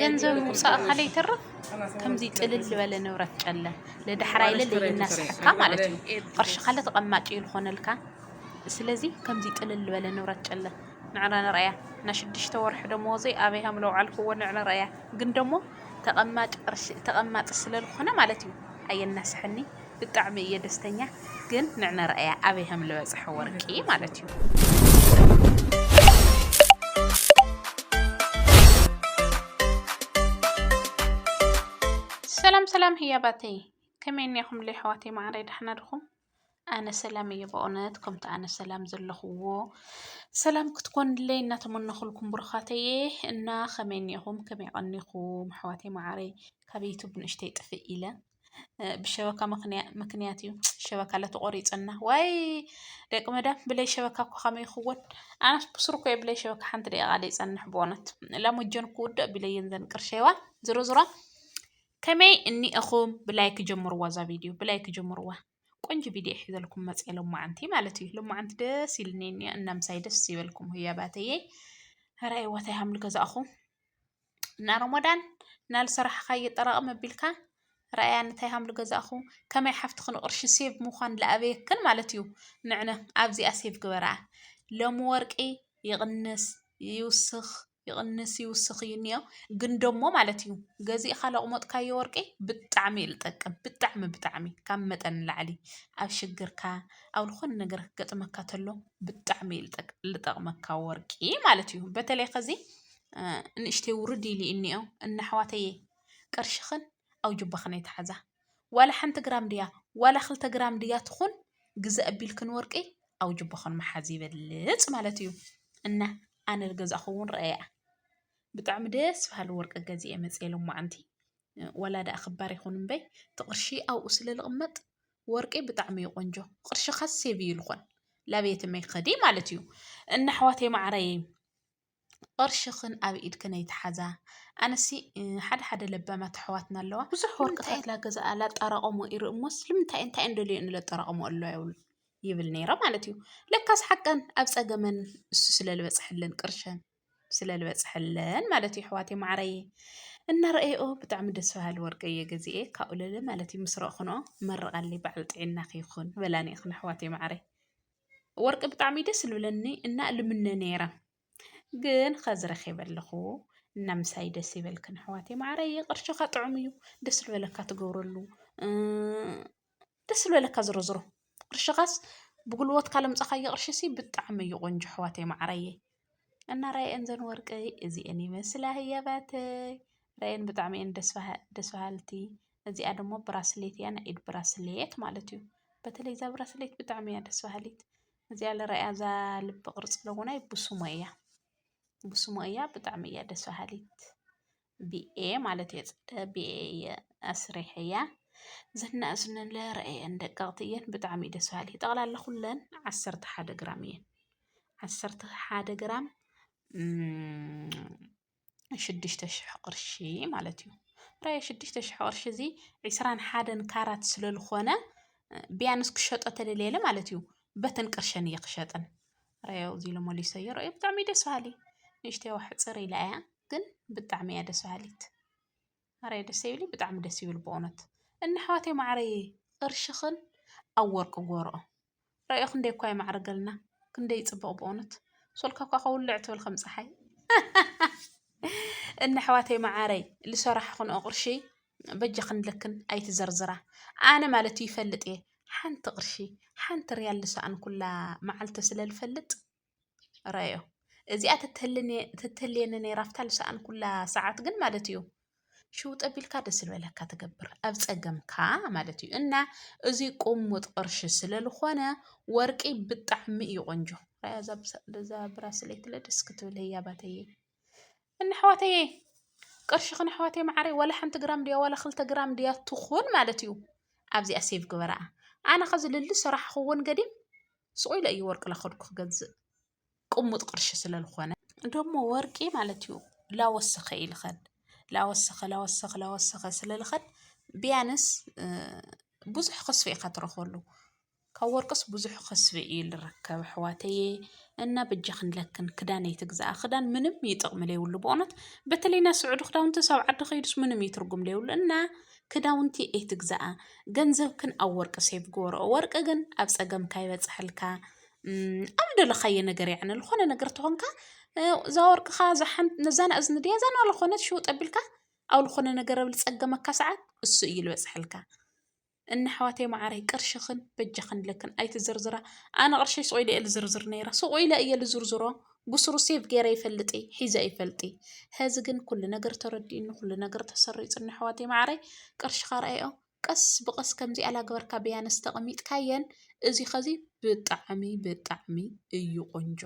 ገንዘብ ምውፃእኻ ለይተርፍ ከምዚ ጥልል ዝበለ ንብረት ጨለ ለዳሕራይ ለለ እናስሓካ ማለት እዩ ቕርሺ ካለ ተቐማጭ እዩ ዝኾነልካ ስለዚ ከምዚ ጥልል ዝበለ ንብረት ጨለ ንዕረ ንርኣያ ናይ ሽዱሽተ ወርሒ ደመወዘይ ኣበይ ሃም ለውዓልክዎ ንዕረ ንርኣያ ግን ደሞ ተቐማጭ ቕርሺ ተቐማጢ ስለ ዝኾነ ማለት እዩ ኣየናስሐኒ ብጣዕሚ እየ ደስተኛ ግን ንዕመረኣያ ኣበይ ከም ዝበፅሐ ወርቂ ማለት እዩ ሰላም ሰላም ህያባተይ ከመይ እኒኹም ለይሕዋተይ ማዕረይ ዳሕና ድኹም ኣነ ሰላም እየ በእውነት ከምቲ ኣነ ሰላም ዘለኹዎ ሰላም ክትኮንለይ እናተመነኹልኩም ብሩኻተየ እና ከመይ እኒኹም ከመይ ቀኒኹም ኣሕዋተይ ማዕረይ ካብ ዩቱብ ንእሽተይ ጥፍእ ኢለ ብሸበካ ምክንያት እዩ ሸበካ ለተቆሪፀና ዋይ ደቂ መዳም ብለይ ሸበካ እኮ ከመይ ይኽወን ኣነስ ብስሩ እኮ ብለይ ሸበካ ሓንቲ ደቂቃ ዘይፀንሕ ብእውነት ላሞጀን ክውዳእ ቢለየን ዘን ቅርሸዋ ዝሮ ዝሮ ከመይ እኒእኹም ብላይክ ጀምርዋ እዛ ቪድዮ ብላይክ ጀምርዋ ቆንጆ ቪድዮ ሒዘልኩም መፅ ሎማዓንቲ ማለት እዩ ሎማዓንቲ ደስ ይልኒ እኒኣ እናምሳይ ደስ ይበልኩም ህያባተየይ ራይዋታይ ሃምል ገዛእኹም እና ሮሞዳን እና ዝሰራሕኻዮ ጠራቕም ኣቢልካ ራእያ እንታይ ሃምሉ ገዛእኹ ከመይ ሓፍትኺ ንቕርሺ ሴቭ ምዃን ዝኣበየክን ማለት እዩ ንዕነ ኣብዚኣ ሴቭ ግበራ ሎሚ ወርቂ ይቕንስ ይውስኽ ይቕንስ ይውስኽ እዩ እኒኦ ግን ደሞ ማለት እዩ ገዚእኻ ለቕሞጥካዮ ወርቂ ብጣዕሚ እዩ ዝጠቅም ብጣዕሚ ብጣዕሚ ካብ መጠን ንላዕሊ ኣብ ሽግርካ ኣብ ዝኾነ ነገር ክገጥመካ ተሎ ብጣዕሚ እዩ ዝጠቅ- ዝጠቕመካ ወርቂ ማለት እዩ በተለይ ከዚ ንእሽተይ ውርድ ኢሉ እዩ ዝኒኦ እና ኣሕዋተየ ቅርሽኽን ኣብ ጁባኽን ኣይትሓዛ ዋላ ሓንቲ ግራም ድያ ዋላ ክልተ ግራም ድያ ትኹን ግዘ ኣቢልክን ወርቂ ኣብ ጁባኽን ምሓዝ ይበልፅ ማለት እዩ እና ኣነ ዝገዛእኹ እውን ረኣያ ብጣዕሚ ደስ በሃሊ ወርቂ ገዚኤ መፅየ ሎማዓንቲ ዋላ ደኣ ክባር ይኹን እምበይ እቲ ቅርሺ ኣብኡ ስለ ዝቕመጥ ወርቂ ብጣዕሚ እዩ ቆንጆ ቅርሽኻ ሴቭ እዩ ዝኾን ላቤትም ኣይክኸዲ ማለት እዩ እና ኣሕዋተይ ማዓረይ ቕርሽኽን ኣብ ኢድክን ኣይትሓዛ ኣነሲ ሓደ ሓደ ለባማት ኣሕዋትና ኣለዋ ብዙሕ ወርቅታት ላገዛኣ ላጠራቐሞ ይርኢ እሞስ ልምንታይ እንታይ እንደልየን እዩ ለጠራቐሞ ኣሎ ይብሉ ይብል ነይረ ማለት እዩ ለካስ ሓቀን ኣብ ፀገመን እሱ ስለ ልበፅሐለን ቅርሸን ስለ ልበፅሐለን ማለት እዩ ኣሕዋተይ ማዕረይ እናረኣየኦ ብጣዕሚ ደስ በሃሊ ወርቂ እየ ገዚኤ ካብኡ ልዕሊ ማለት እዩ ምስ ረእኹንኦ መርቓለይ በዓል ጥዒናኺ ይኹን በላኒ ኢኽን ኣሕዋተይ ማዕረይ ወርቂ ብጣዕሚ ደስ ዝብለኒ እና ልምነ ነይረ ግን ኸዚ ረኺበ ኣለኹ እና ምሳይ ደስ ይበልክን ኣሕዋተይ ማዕረይ ቅርሽኻ ጥዑም እዩ ደስ ዝበለካ ትገብረሉ ደስ ዝበለካ ዝሮ ዝሮ ቅርሽኻስ ብጉልበትካ ለምፀኻዮ ቅርሽሲ ብጣዕሚ እዩ ቆንጆ ኣሕዋተይ ማዕረየይ እና ራይኤን ዘን ወርቂ እዚኤን ይመስላ ህያባተይ ራይኤን ብጣዕሚ እየን ደስ በሃልቲ። እዚኣ ደግሞ ብራስሌት እያ ናይ ኢድ ብራስሌት ማለት እዩ። በተለይ እዛ ብራስሌት ብጣዕሚ እያ ደስ በሃሊት። እዚኣ ልረኣያ እዛ ልቢ ቅርፂ ለውናይ ብስሞ እያ ብስሞ እያ ብጣዕሚ እያ ደስ በሃሊት። ብኤ ማለት እየ ፅደ ብኤ እየ ኣስሪሐያ ዝናእዝነን ለረአየን ደቀቕቲ እየን ብጣዕሚ እዩ ደስ በሃሊ ጠቕላላ ኩለን ዓሰርተ ሓደ ግራም እየን ዓሰርተ ሓደ ግራም ሽዱሽተ ሽሕ ቅርሺ ማለት እዩ ራየ ሽዱሽተ ሽሕ ቅርሺ እዚ ዕስራን ሓደን ካራት ስለዝኾነ ቢያንስ ክሸጦ ተደልየለ ማለት እዩ በተን ቅርሸን እየ ክሸጠን ራዮ እዚ ኢሉ መሊሰዮ ራዮ ብጣዕሚ ደስ በሃሊ ንእሽተይ ዋሕፅር ኢላ እያ ግን ብጣዕሚ እያ ደስ በሃሊት ማርየ ደስ ዘይብልይ ብጣዕሚ ደስ ይብሉ በእውነት እና ኣሕዋተይ ማዓረይ ቅርሽኽን ኣብ ወርቂ ጎርኦ ረኣዮ ክንደይ እኳ የማዕርገልና ክንደይ ይፅብቕ በእውነት ሶልካ እኳ ከውልዕ ትብል ከም ፀሓይ እና ኣሕዋተይ ማዓረይ ልሰራሕኽንኦ ቅርሺ በጃኽን ልክን ኣይትዘርዝራ ኣነ ማለት እዩ ይፈልጥ እየ ሓንቲ ቅርሺ ሓንቲ ርያል ልሰኣንኩላ መዓልቲ ስለ ልፈልጥ ረዮ እዚኣ ተተልየኒ ነይራ ኣብታ ዝሰኣንኩላ ሰዓት ግን ማለት እዩ ሽው ጠቢልካ ደስ ዝበለካ ትገብር ኣብ ፀገምካ ማለት እዩ እና እዚ ቁሙጥ ቅርሺ ስለዝኾነ ወርቂ ብጣዕሚ እዩ ቆንጆ ራያ ዛዛ ብራስለይትለ ደስ ክትብል ህያባተየ እንኣሕዋተየ ቅርሽኽን ኣሕዋተይ መዓረይ ዋላ ሓንቲ ግራም ድያ ዋላ ክልተ ግራም ድያ ትኹን ማለት እዩ ኣብዚኣ ሴቭ ግበራኣ ኣነ ከዚ ልሊ ስራሕ ክውን ገዲም ስቑ ኢለ እዩ ወርቂ ላኸድኩ ክገዝእ ቅሙጥ ቅርሺ ስለዝኾነ ደሞ ወርቂ ማለት እዩ ላወሰኸ እዩ ልኸድ ላወሰኸ ላወሰኸ ላወሰኸ ስለልኸድ ቢያንስ ብዙሕ ክስፊ ኢኻ ትረኽበሉ ካብ ወርቅስ ብዙሕ ኽስቢ እዩ ልረከብ ኣሕዋተየ እና በጃኽን ለክን ክዳን ኣይትግዛኣ ክዳን ምንም እዩ ጥቕሚ ለይብሉ ብእውነት በተለይ ናይ ስዑዲ ክዳውንቲ ሳብ ዓዲ ከይዱስ ምንም እዩ ትርጉም ለይብሉ እና ክዳውንቲ ኣይትግዛኣ ገንዘብክን ኣብ ወርቂ ሴቭ ግበረኦ ወርቂ ግን ኣብ ፀገምካ ይበፅሐልካ ኣብ ደለኻዮ ነገር ያዕኒ ዝኾነ ነገር ተኾንካ እዛ ወርቅኻ ነዛን እዝኒ ድያ እዛን ዝኾነት ሽውጥ ኣቢልካ ኣብ ዝኾነ ነገር ኣብ ዝፀገመካ ሰዓት እሱ እዩ ልበፅሐልካ እና ኣሕዋተይ ማዓረይ ቅርሽክን በጃክን ለክን ኣይትዝርዝራ ኣነ ቅርሸይ ሱቅ ኢለ እየ ልዝርዝር ነይረ ሱቅ ኢለ እየ ልዝርዝሮ ብሱሩ ሴቭ ገይረ ይፈልጥ እየ ሒዘ ኣይፈልጥ እየ ሀዚ ግን ኩሉ ነገር ተረዲኡኒ ኩሉ ነገር ተሰሪፁኒ ኣሕዋተይ ማዓረይ ቅርሽካ ረኣዮ ቀስ ብቀስ ከምዚኣ ላገበርካ ብያነስ ተቀሚጥካየን እዚ ከዚ ብጣዕሚ ብጣዕሚ እዩ ቆንጆ።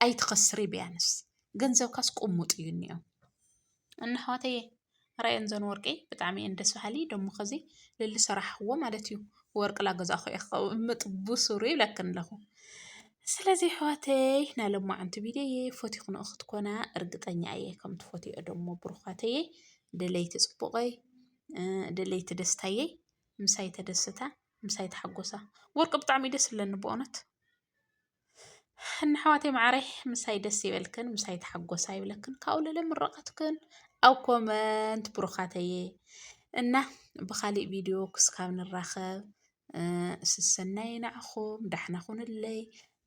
ኣይትኸስሪ ብያንስ ገንዘብካስ ቁሙጥ እዩ እኒኦ እና ኣሕዋተየ ራኣየን ዘን ወርቂ ብጣዕሚ እየን ደስ በሃሊ ደሞ ከዚ ለልሰራሕኽዎ ማለት እዩ ወርቂ ላገዛእኹ እየ ከቅምጥ ብሱሩ ይብለክን ኣለኹ ስለዚ ኣሕዋተይ ናይ ሎማዓንቲ ቪድዮየ ፈቲኽንኦ ክትኮና እርግጠኛ እየ ከም ትፈትይኦ ደሞ ብሩኻተየ ደለይቲ ፅቡቀይ ደለይቲ ደስታየ ምሳይ ተደስታ ምሳይ ተሓጎሳ ወርቂ ብጣዕሚ እዩ ደስ ዝብለኒ በእውነት ንኣሕዋተይ ማዓረይ ምሳይ ደስ ይበልክን ምሳይ ተሓጎሳ ይብለክን ካብኡ ለለ ምርቃትክን ኣብ ኮመንት ብሩካተየ እና ብካሊእ ቪድዮ ክስካብ ንራከብ ስሰናዩ ንዓኩም ዳሕና ኩኑለይ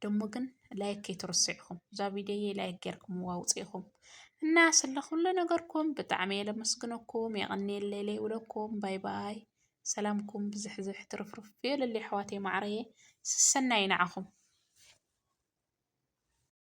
ደሞ ግን ላይክ ከይትርስዕኩም እዛ ቪድዮ ላይክ ገርክምዋ ውፅኢኩም እና ስለኩሉ ነገርኩም ብጣዕሚ የለመስግነኩም የቀንየለይ ለይብለኩም ባይ ባይ ሰላምኩም ብዝሕዝሕ ትርፍርፍ ይበለለይ ኣሕዋተይ ማዓረየ ሰሰናዩ ናዓኹም።